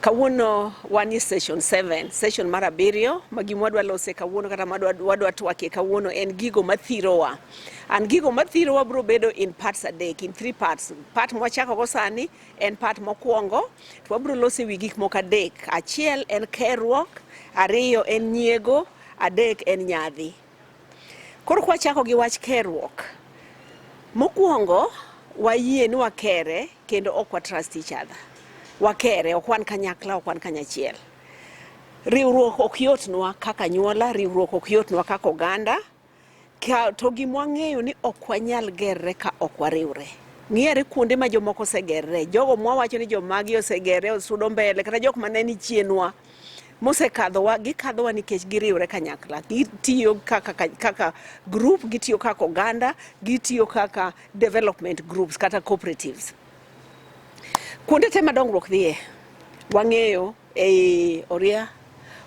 Kawuono wanie session 7, session mar abiriyo ma gima wadwa lose kawuono kata madwa wadwa twakie kawuono en gigo mathirowa. An gigo mathirowa bro bedo in parts adek, in three parts. Part mwachako go sani en part mokwongo to wabro lose wi gik moko adek. Achiel en kerruok, ariyo en nyiego, adek en nyadhi. Koro kwa chako gi wach kerruok. Mokwongo wayie ni wakere kendo ok wa trust each other. Wakere ok wan kanyakla ok wan kanyachiel. Riwruok ok yotnwa kaka nyuola, riwruok ok yotnwa kaka oganda. To gimwa ng'eyo ni ok wanyal gerre ka ok wariwre. Ng'ere kuonde ma jomoko osegerre, jogo mwawacho ni jomagi osegerre osudo mbele kata jok ma ne ni chienwa. mosekadhowa gikadhowa nikech giriwre kanyakla gitiyo kaka, ka- kaka group gitiyo kaka oganda gitiyo kaka development groups kata cooperatives kuonde te ma dongruok dhiye wang'eyo ei oria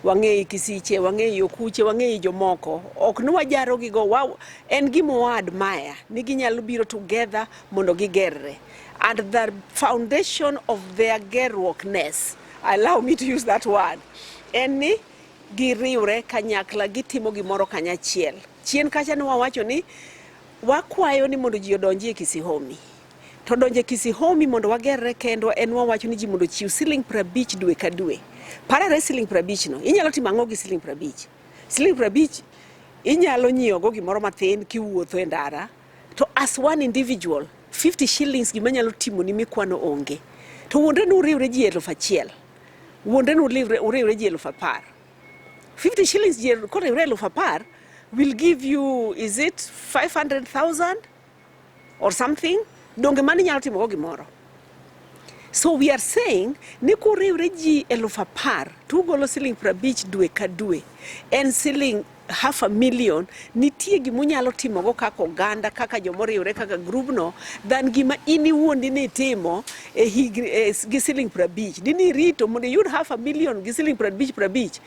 wang'eyi kisiche wang'eyi okuche wang'eyi jomoko ok ni wajarogigo wa, en gima waadmaya ni ginyalo biro together mondo gigerre and the foundation of their gerruokness allow me to use that word en ni giriwre kanyakla gitimo gimoro kanyachiel chien kacha ne wawacho ni wakwayo ni mondo ji odonji e kisihomi to donje kisihomi mondo wagerre kendwa en wawacho ni ji mondo chiw siling prabich dwe ka dwe parare siling prabich no inyalo timo ang'o gi siling prabich siling prabich inyalo nyiewogo gimoro mathin kiwuotho e ndara To as one individual, 50 shillings gima nyalo timo ni mikwano onge. To wuondre ni uriwre ji elfu achiel. Wuondre ni uriwre ji elfu apar. 50 shillings ji koriwre elfu apar will give you is it 500,000 or something. Donge mani nyalo timo go gimoro. So we are saying ni kuriwre ji eluf apar to ugolo siling prabich dwe ka dwe en siling half a million nitie gima unyalo timogo kaka oganda kaka jomoriwre kaka grubno than gima in iwuon dine itimo e higni e, gi siling prabich dine irito mondo iyud half a million gi siling prabich prabich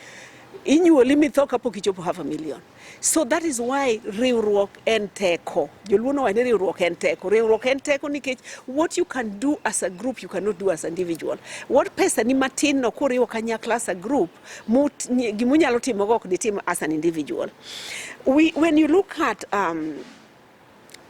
inyuoli mitho kapok ichopo half a million So that is why riwruok en teko. Joluo nowacho ni riwruok en teko. Riwruok en teko nikech what you can do as a group you cannot do as an individual. What pesa ni matin no kuriwo kanyakla as a group gimunyalo timo go ok ditim as an individual. We, when you look at um,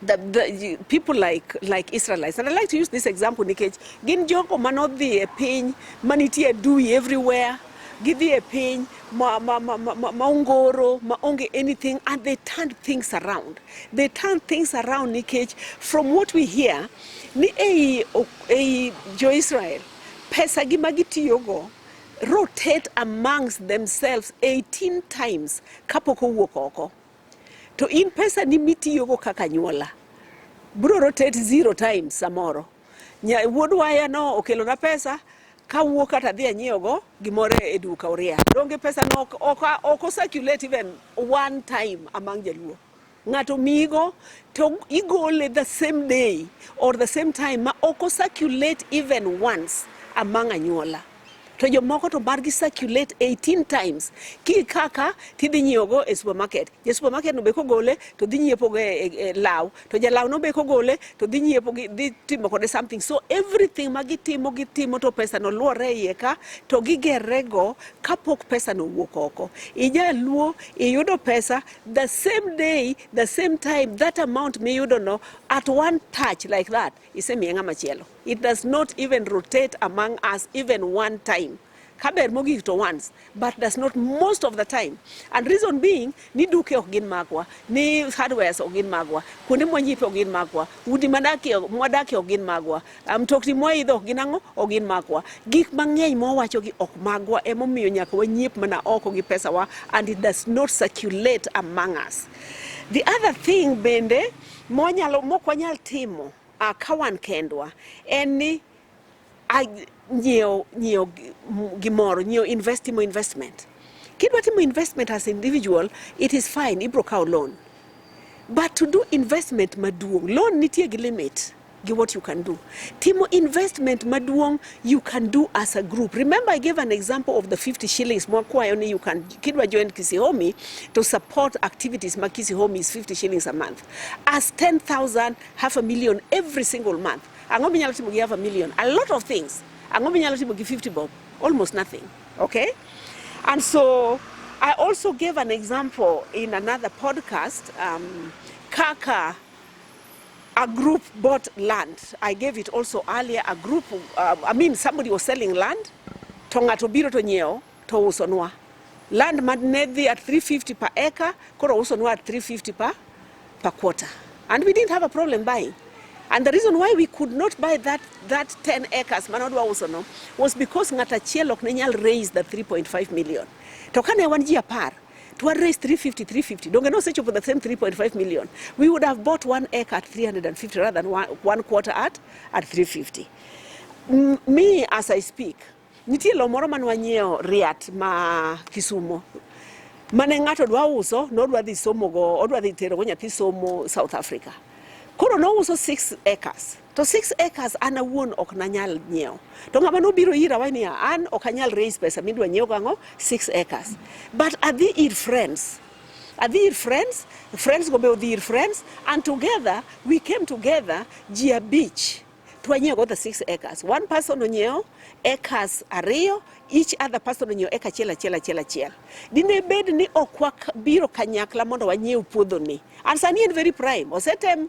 the, the people like like Israelites and I like to use this example nikech gin jogo manodhi e piny manitie dui everywhere gidhi e piny ma, ma, ma, ma, ma, ma ongoro ma onge anything and they turn things around they turn things around nikech from what we hear ni ei, ei jo-israel pesa gi ma gitiyogo rotate amongst themselves 18 times kapok owuok oko To in pesani mitiyogo kaka anyuola biro rotate zero times samoro. Nya, wuod waya no okelona pesa kawuo kata dhi anyiewogo gimoro e duka Uria. Donge pesa no ok, ok, ok o circulate even one time among Jaluo. Ng'ato miyigo to igole the same day or the same time ma ok o circulate even once among anyuola. to jomoko to margi circulate 18 times ki kaka tidhi nyiewogo e supermarket ja supermarket no be kogole to dhi nyiepogo e, e, e law to jalaw no be kogole to dhi nyiepo dhi timo kode something so everything ma gitimo gitimo to pesa no luore iye ka to gigerrego kapok pesa no wuok oko ijaluo iyudo pesa the same day the same time that amount miyudono at one touch like that Isemiye ng'ama chielo. It does not even rotate among us even one time. Kaber mogik to once, but does not most of the time. And reason being, ni duke ok gin magwa, ni hardwares ok gin magwa, kuonde mwanyipe ok gin magwa, udi madakie mwadakie ok gin magwa, ah, mtokni mwaidho ok gin ang'o, ok gin magwa. Gik mang'eny mwawachogi ok magwa, emomiyo nyaka wanyiep mana oko gi pesawa and it does not circulate among us. The other thing bende Mwanyalo mok wanyal timo uh, ka wan kendwa en ni nyiewo nyiewo gimoro nyiewo invest timo investment kidwa timo investment as individual it is fine ibro kawo loan but to do investment maduong loan nitie gi limit gi what you can do timo investment maduong you can do as a group remember i gave an example of the 50 shillings mwakwayo ni you can kidwa join kisihomi to support activities ma kisihomi is 50 shillings a month as 10000 half a million every single month ang'o minyalo timo gi half a million a lot of things ang'o minyalo timo gi 50 bob almost nothing okay and so i also gave an example in another podcast um, kaka a group bought land. I gave it also earlier. A group, uh, I mean, somebody was selling land. To ng'ato biro to nyiewo to usonwa. Land ma ne dhi at 350 per acre, koro usonwa at 350 per, per quarter. And we didn't have a problem buying. And the reason why we could not buy that, that 10 acres manodwa usono was because ng'ato achiel ok ne nyal raise the 3.5 million. To kane wan ji apar, to one raise 350, 350. Don't get no search for the same 3.5 million. We would have bought one acre at 350 rather than one, one quarter at, at 350. M me, as I speak, nitie lo moro mane wanyiewo Riat ma Kisumo mane ng'ato dwa uso nodwa dhi somogo odwa dhi terogo nyathi somo South Africa koro nouso 6 acres to six acres an awuon ok nanyal nyiewo. To ng'ama nobiro ira wani niya, an ok anyal raise pesa midwa nyiewo gang'o six acres. But adhi ir friends. Adhi ir friends, friends go be odhi ir friends and together we came together ji abich to wanyiewo go the six acres. One person onyiewo acres ariyo each other person onyiewo eka achiel achiel achiel achiel. Dine bed ni ok wabiro kanyakla mondo wanyiew puodho ni. And sani en very prime. Osetem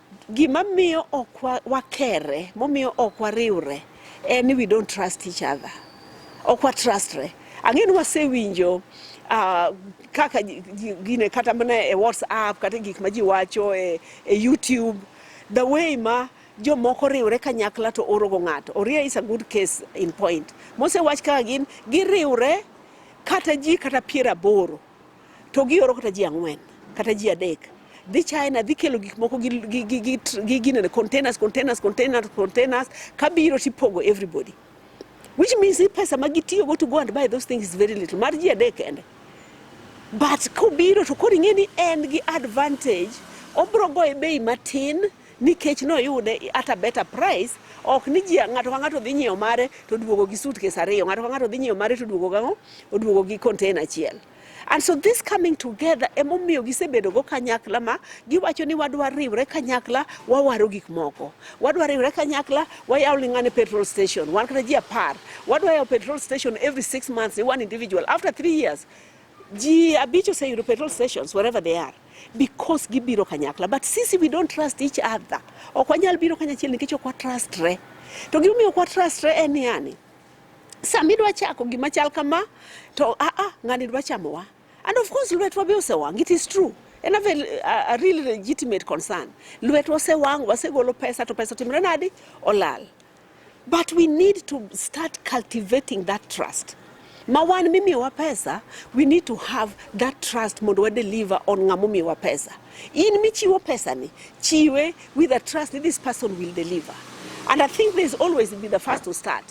Gima miyo ok wakere, momiyo ok wariwre en ni we don't trust each other. Ok wa trustre. Ang'e ni wasewinjo uh, kaka gine kata mana e WhatsApp kata gik ma ji wacho e, e YouTube the way ma jomoko riwre kanyakla to orogo ng'ato. Oria is a good case in point. Mosewach kaka gin giriwre kata ji kata piero aboro To gioro kata ji ang'wen kata ji adek dhi China dhi kelo gik moko gi ginene containers containers containers containers kabiro tipogo everybody which means ni pesa ma gitiyogo to go and buy those things is very little mar ji adek kende but kobiro to koro ing'e ni en gi advantage obro goye bei matin nikech noyude at a better price ok ni ji ng'ato ka ng'ato dhi nyiewo mare to duogo gi suitcase ariyo ng'ato ka ng'ato dhi nyiewo mare to duogo gang'o oduogo gi container achiel and so this coming together emomiyo gisebedogo kanyakla ma giwacho ni wadwa riwre kanyakla wawaro gik moko wadwa riwre kanyakla wayaw ling'ane petrol station wan kata ji apar wadwa yawo petrol station every six months ni one individual after three years Ji abich oseyudo petrol stations wherever they are because gibiro kanyakla but sisi we don't trust each other. Ok wanyal biro kanyachiel nikech ok watrustre. To gimomiyo ok watrustre en ni yani sama idwa chako gima chal kama to a a ng'ani dwa chamowa and of course lwetwa be osewang' it is true en a, a, a real legitimate concern lwetwa osewang' wasegolo pesa to pesa timre nadi olal But we need to start cultivating that trust. Ma wan mimiwa pesa, we need to have that trust mondo wa deliver on ng'amomiwa pesa. In michiwo pesa ni, chiwe with a trust that this person will deliver. And I think there's always be the first to start.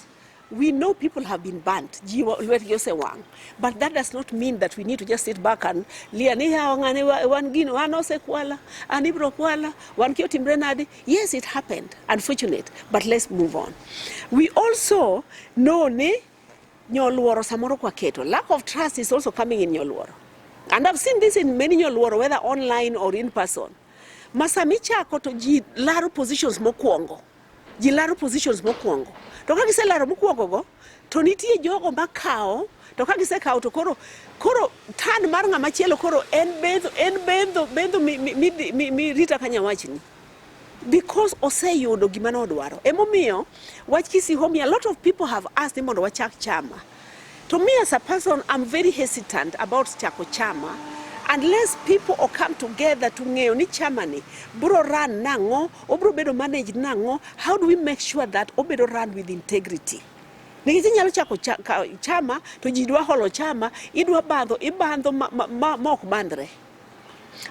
We know people have been burnt, ji lwetgi osewang'. But that does not mean that we need to just sit back and lia ni yawa ng'ane wan gino, an osekwala, an ibro kwala, wan ki otimre nade. Yes, it happened. Unfortunate, but let's move on. We also know ni nyoluoro samoro kwa keto. Lack of trust is also coming in nyoluoro. And I've seen this in many nyoluoro, whether online or in person. Masamichako to ji laro positions mokwongo. Ji laro positions mokwongo. To ka giselaro mokwongo go, To nitie jogo makawo to ka gisekawo to koro koro tan mar ng'ama chielo koro en bendho en bendho bendho mi- mi- mi- mi- mi- rita ka nyawachni because oseyudo gima nodwaro emomiyo wach kisihomi a lot of people have asked ni mondo wachak chama to me as a person i'm very hesitant about chako chama unless people o come together to ng'eyo ni chamani bro run nang'o Obro bedo managed nang'o? How do we make sure that obedo run with integrity? Nikech inyalo chako chama to ji dwa holo chama, idwa bandho, ibandho ma, ma, ma, ma ok bandre.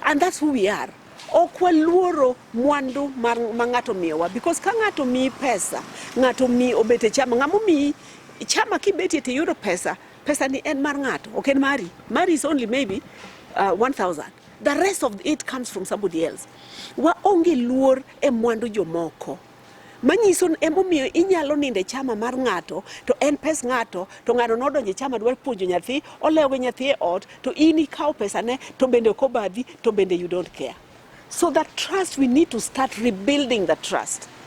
And that's who we are. ok waluoro mwandu ma ng'ato miyowa because ka ng'ato miyi pesa ng'ato mi obet e chama ng'ama omiyi chama kibetie to iyudo pesa pesa ni en mar ng'ato ok en mari mari is only maybe uh, 1000 The rest of it comes from somebody else. Waonge luor e mwandu jomoko manyiso emomiyo inyalo nindo e chama mar ng'ato to en pes ng'ato to ng'ato nodonjo e chama dwaro puonjo nyathi olewo gi nyathi e ot to in ikawo pesane to bende ok obadhi to bende you don't care so the trust we need to start rebuilding the trust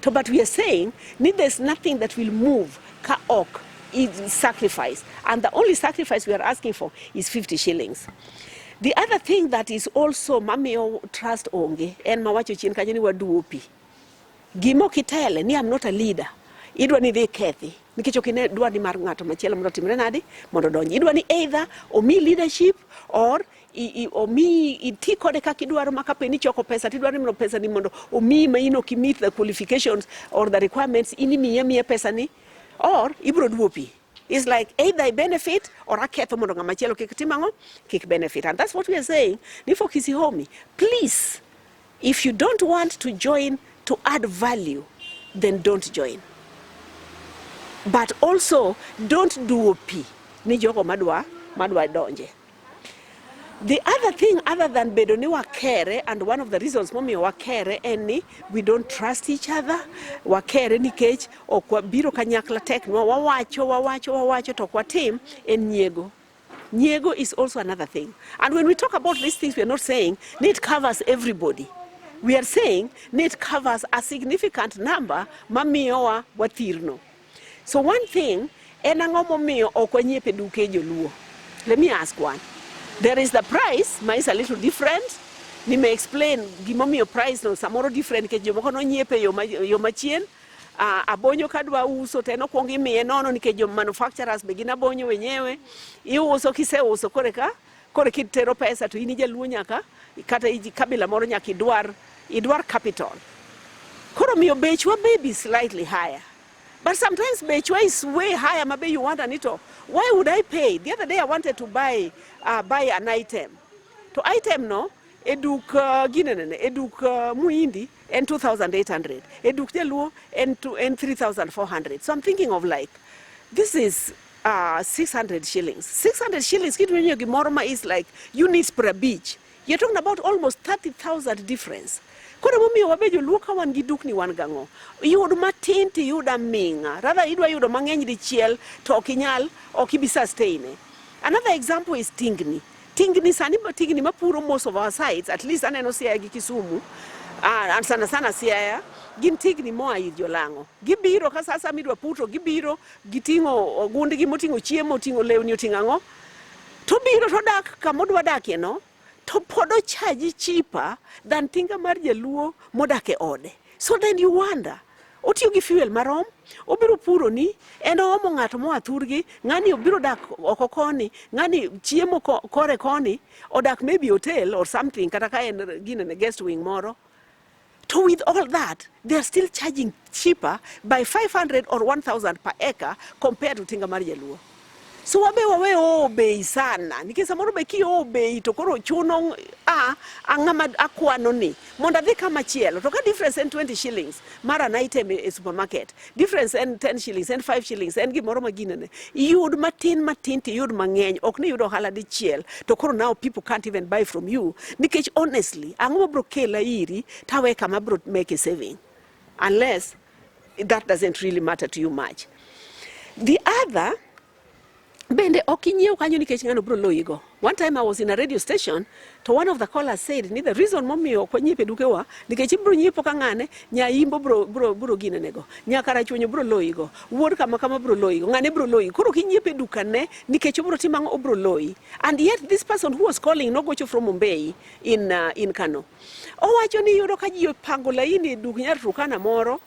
to but we are saying ni there's nothing that will move ka ok is sacrifice and the only sacrifice we are asking for is 50 shillings the other thing that is also mamiyo trust onge en mawacho chien kanyo ni waduopi gimo kitele ni I'm not a leader idwa ni dhi kethi nikech ok ine dwa ni mar ng'ato machielo mondo otimre nadi mondo donji idwa ni either omi leadership or omiyi iti kode kaka idwaro ma kapo ni ichoko pesa to idwaro ni pesa ni mondo omiyi ma in ok imit the qualifications or the requirements in imiye miye pesa ni or ibiro duopi is like either I benefit or aketho mondo ng'ama chielo kik tim ang'o kik benefit and that's what we are saying ni for Kisihomi please if you don't want to join to add value then don't join but also don't duopi ni jogo madwa madwa donje The other thing other than bedo ni wakere and one of the reasons momiyo wakere en ni we don't trust each other. Wakere nikech ok wabiro kanyakla tek nwa wawacho wawacho wawacho to ok watim en nyiego. Nyiego is also another thing. And when we talk about these things we are not saying ni it covers everybody. We are saying ni it covers a significant number mamiyowa wathirno. So one thing, en ang'o momiyo ok wanyiepe duke joluo? Let me ask one. There is the price, ma is a little different. Ni me explain gimomiyo price no samoro different nikech jomoko nonyiepe yo machien. Uh, abonyo kadwa uso to en okwong imiye nono nikech jo manufacturers be gin abonyo wenyewe. Iuso kiseuso koreka Koro kitero pesa to in ijaluo nyaka kata iji kabila moro nyaka idwar idwar capital. Koro miyo bechwa may be slightly higher. But sometimes bechwa is way higher mabe you want anito. Why would I pay? The other day I wanted to buy uh, buy an item. To item no eduk uh, ginenene eduk uh, muindi en 2800 eduk jaluo en, en 3400 so i'm thinking of like this is uh, ah, 600 shillings. 600 shillings kitu yenye gimoroma is like units per beach. You're talking about almost 30,000 difference. Koro momiyo wabe joluo ka wan gi dukni wan gang'o? Yud matin to iyud aming'a. Rather idwa yudo mang'eny dichiel to ok inyal, ok ibi sustain. E. Another example is tingni. Tingni sani tingni mapuro most of our sites, at least aneno Siaya gi Kisumu, uh, sana sana Siaya gin tigni moa ir jolang'o. Gibiro ka sasa midwa puto, gibiro Giting'o ogundgi moting'o chiemo, oting'o lewni, oting'o ang'o, to biro to dak kama odwa dakie no, to pod ochaji chipa than tinga mar jaluo modak e ode. So then you wonder, otiyo gi fuel marom, obiro puro ni, en oomo ng'ato moa thurgi, ng'ani obiro dak oko koni, ng'ani chiemo kore koni, odak maybe hotel or something, kata ka en gine guest wing moro. To with all that, they are still charging cheaper by 500 or 1000 per acre compared to Tinga mar Jaluo. So wabe wawe oo bei sana nikech samoro be ki oo bei to koro chuno a ang'ama akwano ni mondo adhi kama chielo to ka difference en 20 shillings mar an item e supermarket difference en 10 shillings en 5 shillings en gimoro ma ginene iyud matin matin to iyud mang'eny ok ni iyud ohala dichiel to koro now people can't even buy from you nikech honestly ang'o mabro kela iri tawe kama bro make a saving unless that doesn't really matter to you much the other Bende ok inyiew kanyo nikech ng'ano bro loyi go. One time I was in a radio station to one of the callers said ni the reason momiyo ok wanyiepe dukewa nikech ibro nyiepo ka ng'ane nyaimbo bro bro bro ginene go. Nyaka rachunyo bro loyi go. Wuod kama kama bro loyi go. Ng'ane bro loyi. Koro kinyiepe dukane nikech obro timo ang'o obro loyi. And yet this person who was calling no gocho from Mumbai in uh, in Kano. Owacho ni yudo ka ji opango laini e duk nyar Turkana moro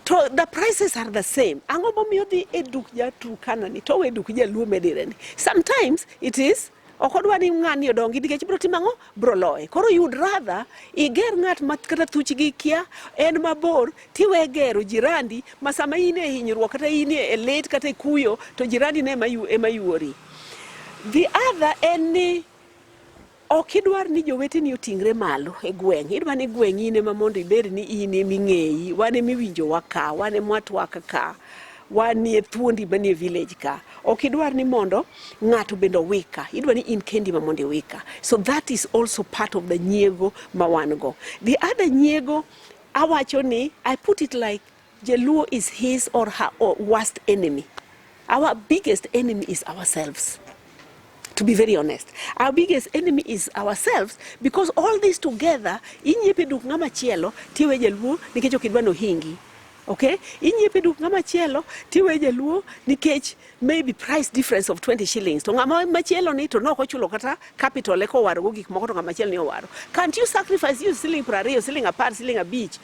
to the prices are the same. Ang'o momiyo dhi e duk ja Turkana ni to we duk jaluo medire ni. Sometimes it is ok odwa ni ng'ani odongi nikech bro timo ang'o bro loye. Koro you'd rather iger ng'at ma kata thuch gi kia en mabor tiwe gero jirandi ma sama in e hinyruok kata in e lit kata e kuyo to jirandi ne ema yuori. The other en ni Ok idwar ni joweteni oting're malo e gweng'. Idwa ni gweng' in ema mondo ibed ni in ema ing'eyi. Wan ema iwinjowa ka, wan ema watwak ka, wan nie thuondi manie village ka. Ok idwar ni mondo ng'ato bende owika. Idwa ni in kendi ema mondo iwika. So that is also part of the nyiego ma wan go. The other nyiego awacho ni I put it like Jaluo is his or her worst enemy. Our biggest enemy is ourselves. To be very honest, our biggest enemy is ourselves because all this together inyepe duk ng'ama chielo tiwe jaluo nikech ok idwa nohingi. Okay? Inyepe duk ng'ama chielo tiwe jaluo nikech maybe price difference of 20 shillings to ng'ama machielo ni to nok ochulo kata capital eka owarogo gik moko to ng'ama chielo ni owaro can't you sacrifice you siling piero ariyo siling apar siling abich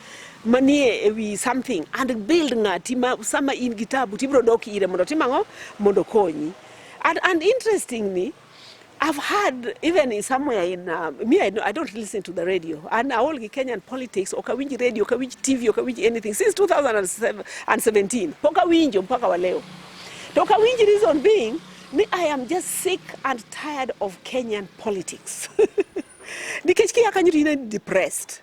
manie ewi something and build ng'ati ma sama in gi tabu tibiro dok ire mondo tim ang'o mondo konyi and, and interestingly I've heard even in somewhere in uh, me I, I don't listen to the radio and all the Kenyan politics okawinji radio okawinji TV okawinji anything since 2017 pokawinjo mpaka wa leo to okawinji reason being me I am just sick and tired of Kenyan politics nikech kia kanyo to in depressed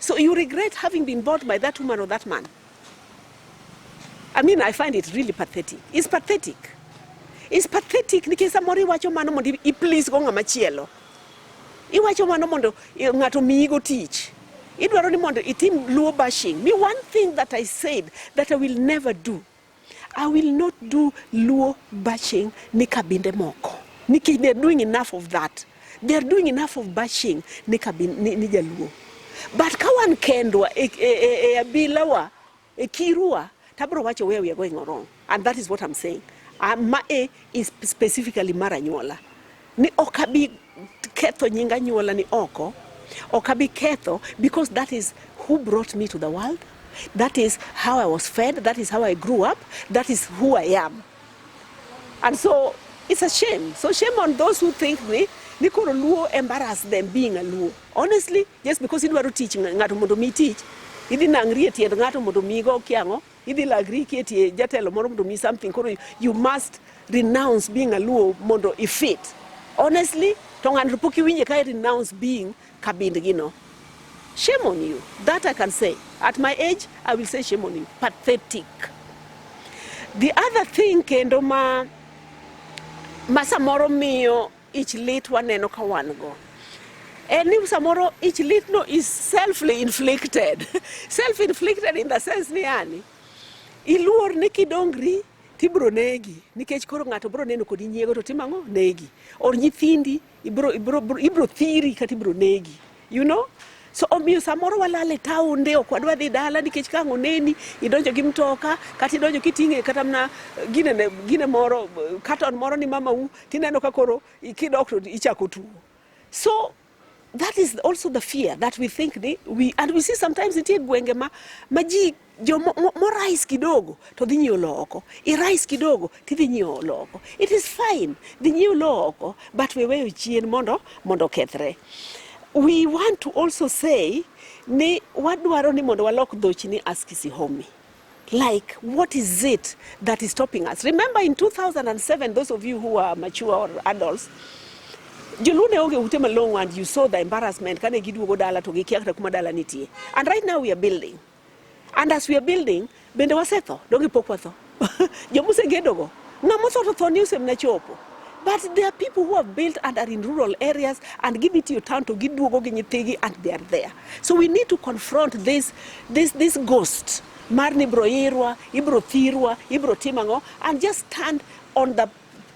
So you regret having been bought by that woman or that man? I mean, I find it really pathetic. It's pathetic. It's pathetic nikech samoro iwacho mano mondo i please go ng'ama chielo. Iwacho mano mondo ng'ato miyigo tich. Idwaro ni mondo itim luo bashing. Me one thing that I said that I will never do I will not do Luo bashing ni kabinde moko nikech they are doing enough of that. They are doing enough of bashing ni, kabin, ni, ni Jaluo. But ka wan kendwa e, e, e, e abilawa e kirua tabro wacho where we are going wrong and that is what I'm saying. Uh, ma e is specifically mara nyuola. ni ok abi ketho nying anyuola ni oko ok abi ketho because that is who brought me to the world that is how i was fed that is how i grew up that is who i am and so it's a shame so shame on those who think ni ni koro luo embarrass them being a luo honestly just because idwaro tich ng'a- ng'ato mondo mi tich idhi nangri e tiend ng'ato mondo migo kiang'o Idhi lagri iketie jatelo moro mondo mi something koro you must renounce being a Luo mondo ifit. Honestly, to ng'ani to pok iwinje ka renounce being kabind gi no. Shame on you. That I can say. At my age, I will say shame on you. Pathetic. The other thing kendo ma ma samoro miyo Ich lit waneno ka wan go en ni samoro ich litno is selfly inflicted self inflicted in the sense ni yani iluor ni kidongri tibro negi nikech koro ng'ato bro neno kodi nyiego to timang'o negi or nyithindi ibro, ibro, ibro, ibro thiri kata ibro negi you know so omiyo samoro walal e taonde ok wadwa dhi dala nikech ka ang' oneni idonjo gi mtoka kata idonjo kiting'e kata mana eh, gine, ne- gine moro eh, katon moro ni mamau tineno ka koro i- kidok to ichako tuo so that is also the fear that we think ni we, and we see sometimes nitie gwenge ma, ma ji jo morais kidogo to dhi nyiewo lowo oko, irais kidogo to idhi nyiewo lowo oko. It is fine, dhi nyiewo lowo oko but we weyo chien mondo mondo okethre. We want to also say ni wadwaro ni mondo walok dhochi ni ask Sihomi like what is it that is stopping us remember in 2007 those of you who are mature or adults joluo ne onge ute malong'o and you saw the embarrassment kane giduogo dala to gikia kata kuma dala nitie and right now we are building And as we are building, bende wasetho, donge pok watho? Joma osegedogo, ng'ama otho to tho ni osemna chopo. But there are people who have built and are in rural areas and give it to your town to giduogo gi nyithigi and they are there. So we need to confront this, this, this ghost mar ni ibro irwa, ibro thirwa, ibro tim ang'o and just stand on the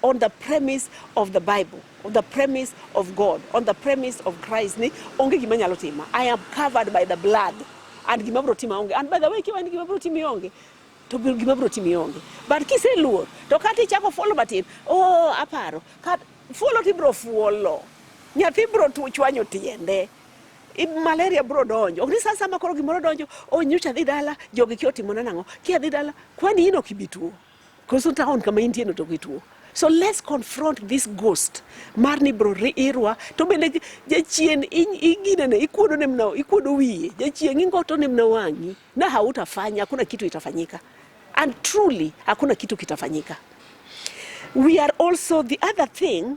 on the premise of the Bible, on the premise of God, on the premise of Christ ni onge gima nyalo tima. I am covered by the blood and gima bro tima onge. And by the way, kiwa ni gima bro timi onge, to gima bro timi onge. But kise luor, to kati chako follow batin, oh aparo, kat follow ti bro follow. Nyathi bro tu chwanyo tiende. malaria bro donjo ok ni saa sama koro gimoro donjo o oh, nyocha adhi dala jogi kia otimona nang'o kia adhi dala kwani in ok ibi tuo Koso town kama intie no to gituo. So let's confront this ghost mar ni bro irwa to bende jachien ingine ne ikuodo ne mna ikuodo wiye jachien ingoto ne mna wangi na hautafanya hakuna kitu itafanyika and truly hakuna kitu kitafanyika we are also the other thing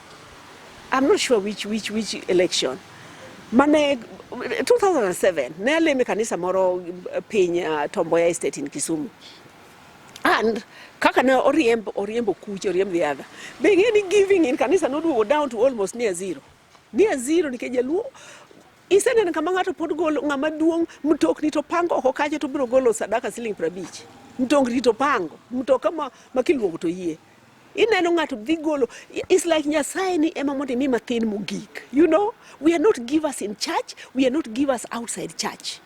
I'm not sure which, which, which election. Mane 2007 ne aleme kanisa moro eh, piny uh, Tomboya Estate in Kisumu and kaka ne oriemb oriembo kuche oriemb the other be ng'e ni giving in kanisa noduogo down to almost near zero near zero nikech jaluo iseneno kama ng'ato pod golo ng'ama duong' mtokni to pango oko kacha to biro golo sadaka siling' prabich mtokni to pango mtoka ma, ma kiluongo to yie ineno ng'ato dhi golo is like nyasaye ni ema mondo imi mathin mogik you know we are not givers in church we are not givers outside church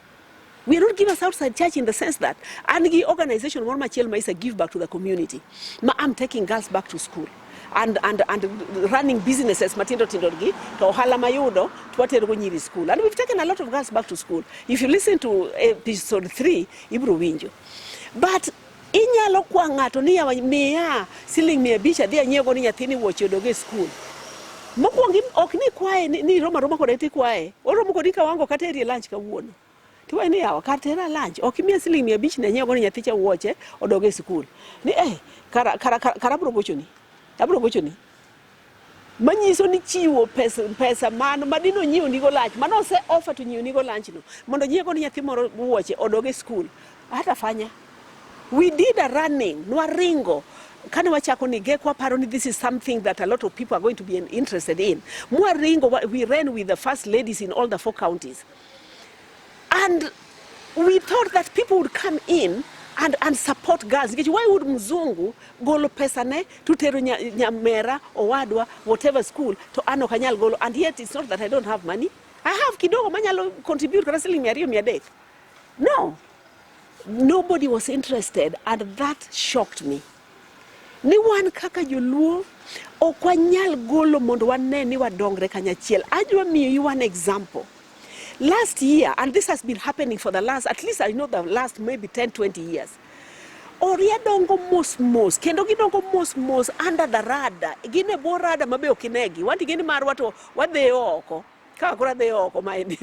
we are not givers outside church in the sense that an gi organization moro machiel ma isa give back to the community ma am taking girls back to school and, and, and running businesses matindo tindo gi to ohala mayudo twaterogo nyiri school and we've taken a lot of girls back to school if you listen to episode 3 ibro winjo but Inyalo kwa ng'ato ni yawa miya siling mia abich adhi anyiewgo ni nyathini wuoche odog e skul. Mokwongo im- ok ni kwaye ni, ni roma roma kode tikwaye. Oromo kodi ka wango kata erie lunch kawuono. Tiwaye ni yawa kar tera lunch ok imiya siling mia abich ni anyiewgo ni nyathicha wuoche odog e skul. Ni eh kara kara kara, kara abro gochoni. Abro gochoni. manyiso ni chiwo pesa, pesa mano madin onyiew nigo lunch mano ose offer to nyiew nigo lunch no mondo nyiew kod nyathi moro wuoche odog e school hata fanya we did a running nwaringo kane wachako ni gek waparo ni this is something that a lot of people are going to be interested in mwaringo we ran with the first ladies in all the four counties And we thought that people would come in and, and support girls nikech why would mzungu golo pesa ne to tero nyamera owadwa whatever school to an ok anyal golo and yet it's not that I don't have money I have kidogo manyalo contribute kata siling mia ariyo mia adek no nobody was interested and that shocked me ni wan kaka joluo ok wanyal golo mondo wane ni wadongre kanyachiel. Adwa miyo you an example. Last year, and this has been happening for the last, at least I know the last maybe 10, 20 years. Oria dongo mos mos, kendo gidongo mos mos under the radar. Gin e bwo radar mabe ok inegi. Wanti gini marwa to wadheyo oko. ka koro adhi oko maendi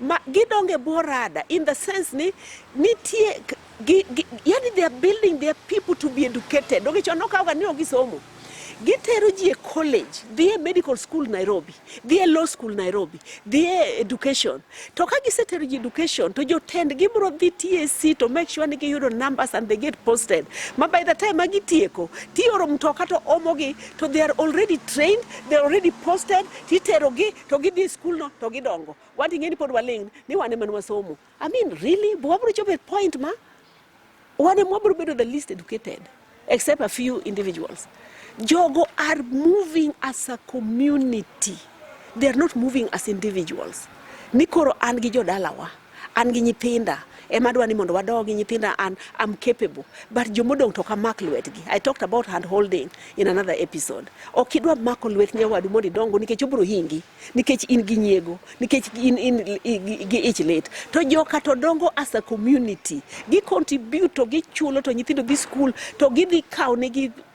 ma gidongo e bwo rada in the sense ni nitie k- gi, gi, yani they are building their people to be educated donge chon nokawoga ni ok gisomo gitero ji e college dhi e medical school nairobi dhi e law school nairobi dhi e education to ka gisetero ji education to jotend gibiro dhi tac to make sure ni giyudo numbers and they get posted ma by the time ma gitieko tioro mtoka to omogi to they are already trained, they are already posted, titerogi to gidhi school no to gidongo. Wan ing'e ni pod waling' ni wan ema wasomo. I mean really, but wabro chopo a point ma wan ema wabro bedo the least educated except a few individuals. Jogo are moving as a community. They are not moving as individuals. Ni koro an gi jodalawa. An gi nyithinda ema adwa ni mondo wadogi nyithinda an am capable but jomodong' to kamak lwetgi i talked about hand holding in another episode ok idwa mako lwet nyawadu mondo idongo nikech obro hingi nikech in gi nyiego nikech in, in, gi ich lit to joka to dongo as a community gi contribute to gichulo to nyithindo dhi school to gidhi kawo negi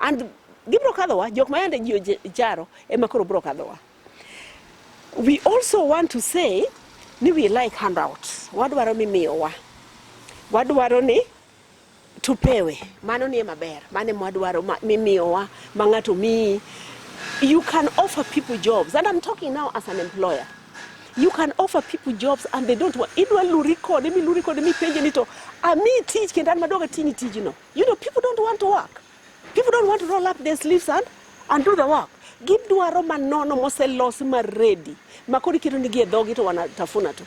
And gibro kadhowa, jok ma yande ji ojaro ema koro bro kadhowa. We also want to say ni we like handouts. Wadwaro mimiyowa. Wadwaro ni tupewe. Mano ni maber. Mane mwadwaro mimiyowa ma ng'ato miyi. You can offer people jobs and I'm talking now as an employer. You can offer people jobs and they don't want. Idwa luri kode, mi luri kode, mi penje ni to ami tich kendo an madwaga tini tijno. You know, people don't want to work. People don't want to roll up their sleeves and, and do the work. Gidwaro manono moselosi maredi makoro iketo nigi e dhogi to wanatafuna tu.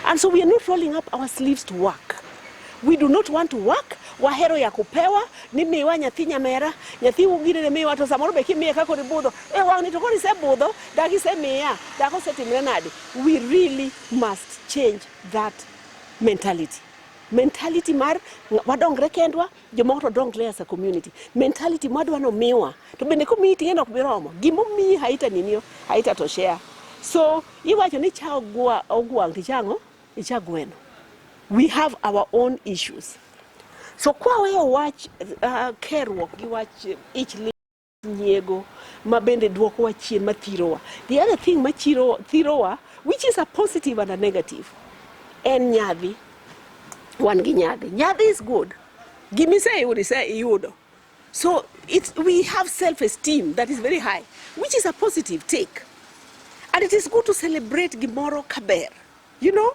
And so we are not rolling up our sleeves to work. We do not want to work. Wahero ya kupewa ni miwa nyathi nyamera nyathi ugire ne miwa to samoro be kimiye kako ni budho e wang'ni to koni se budho dagi se miya dako se timre nade we really must change that mentality mentality mar wadongre kendwa jomoko to dongre as a community mentality mwadwa no miwa to bende komiyi ting'eno ok biromo gimomiyi haita ninio haita to share so iwacho ni cha ogwa ogwang tichang'o icha gweno we have our own issues so kwaweyo wach uh, keruok gi wach ich nyiego ma bende dwokowa chien ma thirowa. The other thing ma chiro, thirowa which is a positive and a negative en nyadhi. Wan gi nyadhi. Nyadhi is good. Gima iseyudo iseyudo. So it's, we have self-esteem that is very high which is a positive take and it is good to celebrate gimoro kaber you know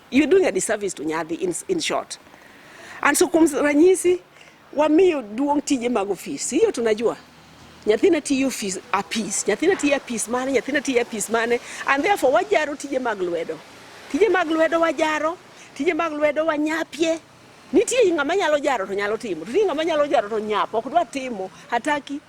You're doing a disservice to Nyadhi in, in short. And so kuom ranyisi wamiyo duong' tije mag ofis, hiyo tunajua nyathina tiyo ofis apis, nyathina tiyo apis mane, nyathina tiyo apis mane, and therefore wajaro tije mag lwedo, tije mag lwedo wajaro, tije mag lwedo wanyapie nitie ng'ama nyalo jaro to nyalo timo, to nitie ng'ama nyalo jaro to nyap ok dwa timo hataki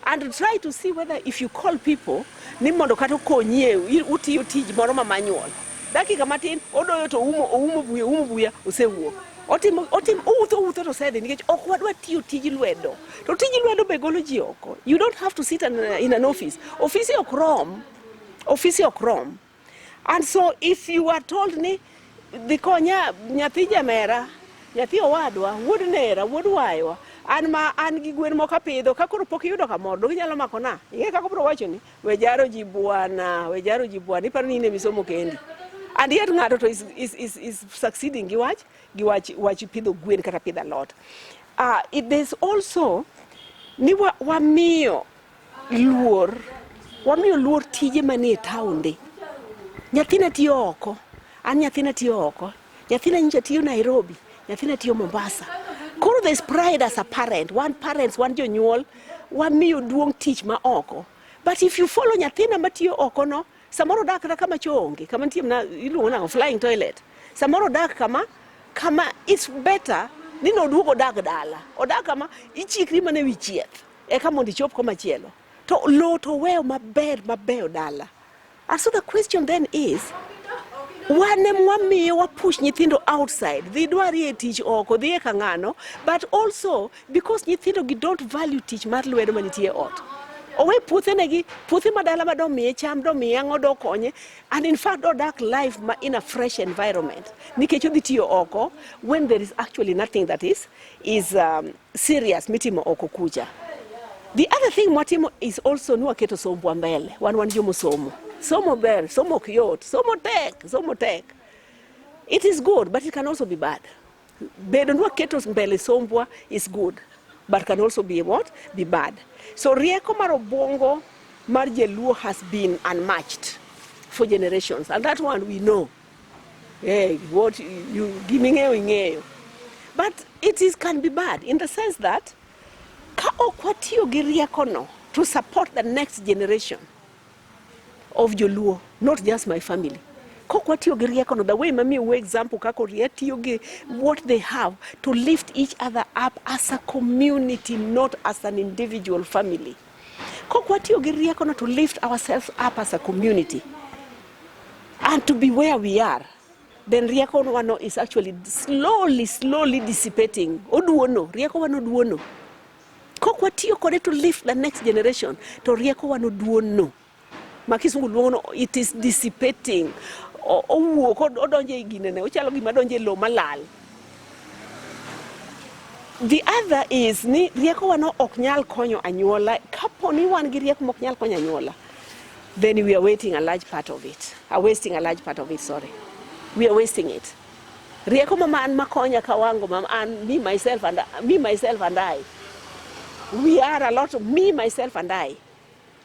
and try to see whether if you call people ni mondo kata okonyie utiyo tij moro ma manual dakika matin odoyo to oumo oumo buya oumo buya osewuok otimo otimo owutho owutho to osedhi nikech ok wadwa tiyo tij lwedo to tij lwedo be golo ji oko you don't have to sit in an office ofisi ok rom ofisi ok rom And so if you are told ni dhi konya nyathi jamera, nyathi owadwa, wuod nera, wuod waywa, an ma an gi gwen moko apidho ka koro pok iyudo kamoro dogi nyalo mako na ing'e kaka obro wacho ni we jaro ji bwana we jaro ji bwana iparo ni in emisomo kendi and yet ng'ato to is, is, is, is succeeding gi wach gi wach wach pidho gwen kata pidho alot uh, it, there's also ni wamiyo wa luor wamiyo luor tije manie taonde nyathina tiyo oko an nyathina tiyo oko nyathina nyicha tiyo nairobi nyathina tiyo mombasa koro there's pride as a parent wan parents wan jonyuol wamiyo duong' tich ma oko but if you follow nyathina matiyo oko no samoro odak kata kama choo onge kama nitie mana iluongo nang'o flying toilet samoro odak kama kama it's better ni noduog odag dala odag kama ichikri mana e wi chieth Eka mondo ichop komachielo to lowo to weyo maber mabeyo dala. And so the question then is wan em wamiyo wapush nyithindo outside dhi dwarie tich oko dhi e kang'ano but also because nyithindo gi don't value tich mar lwedo manitie ot owe puothe negi puothe madala ma domiye cham domiye ang'o dokonye and in fact odak life ma in a fresh environment nikech odhi tiyo oko when there is actually nothing that is is um, serious mitimo oko kucha. The other thing mwatimo is also ni waketo sombwa mbele. Wan wan jomo somo. Somo ber, somo ok yot, somo tek, somo tek. It is good but it can also be bad. Bedo ni waketo mbele sombwa is good but can also be what? Be bad. So rieko mar obwongo mar Jaluo has been unmatched for generations and that one we know. Hey, what you giming'eyo ing'eyo. But it is can be bad in the sense that ka ok watiyo gi riekono to support the next generation of Joluo, not just my family. Kok watiyo gi riekono the way mami uwe example kako rie tiyo gi what they have to lift each other up as a community not as an individual family. Kok watiyo gi riekono to lift ourselves up as a community and to be where we are then rieko wano is actually slowly slowly dissipating oduono rieko wano duono kok watiyo kode to lift the next generation to rieko wano duono ma kisungu luongo no it is dissipating O- owuok od- odonjo e ginene ochalo gima donjo e lo malal the other is ni riekowa no ok nyal konyo anyuola kapo ni wan gi rieko mok nyal konyo anyuola then we are waiting a large part of it are wasting a large part of it sorry we are wasting it rieko mama an makonya kawango mama an me myself and me myself and i we are a lot of me myself and i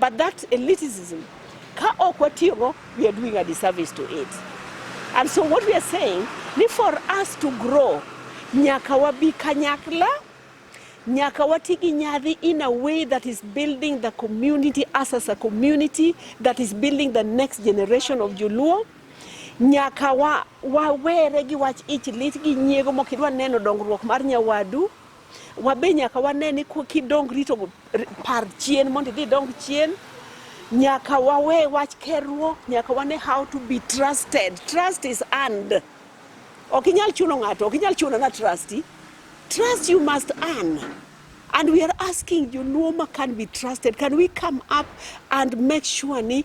But that elitism, ka ok watiyogo, we are doing a disservice to it. And so what we are saying, ni for us to grow, nyaka wabi kanyakla, nyaka wati gi nyadhi in a way that is building the community us as a community, that is building the next generation of Joluo. Nyaka wa, wawere gi wach ich lit gi nyiego mok idwa neno dongruok mar nyawadu. Wabe nyaka wane ni kidongri to par chien mondo idhi dong chien. Nyaka wawe wach kerruok, nyaka wane how to be trusted. Trust is earned. Ok inyal chuno ng'ato, ok inyal chuno na trust. Trust you must earn. And we are asking you, Nuoma can be trusted. Can we come up and make sure ni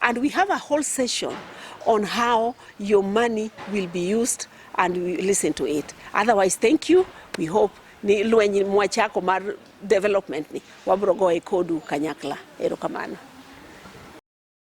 And we have a whole session on how your money will be used and we listen to it. Otherwise, thank you. We hope ni lweny mwachako mar development ni wabro goye kodu kanyakla. Erokamano.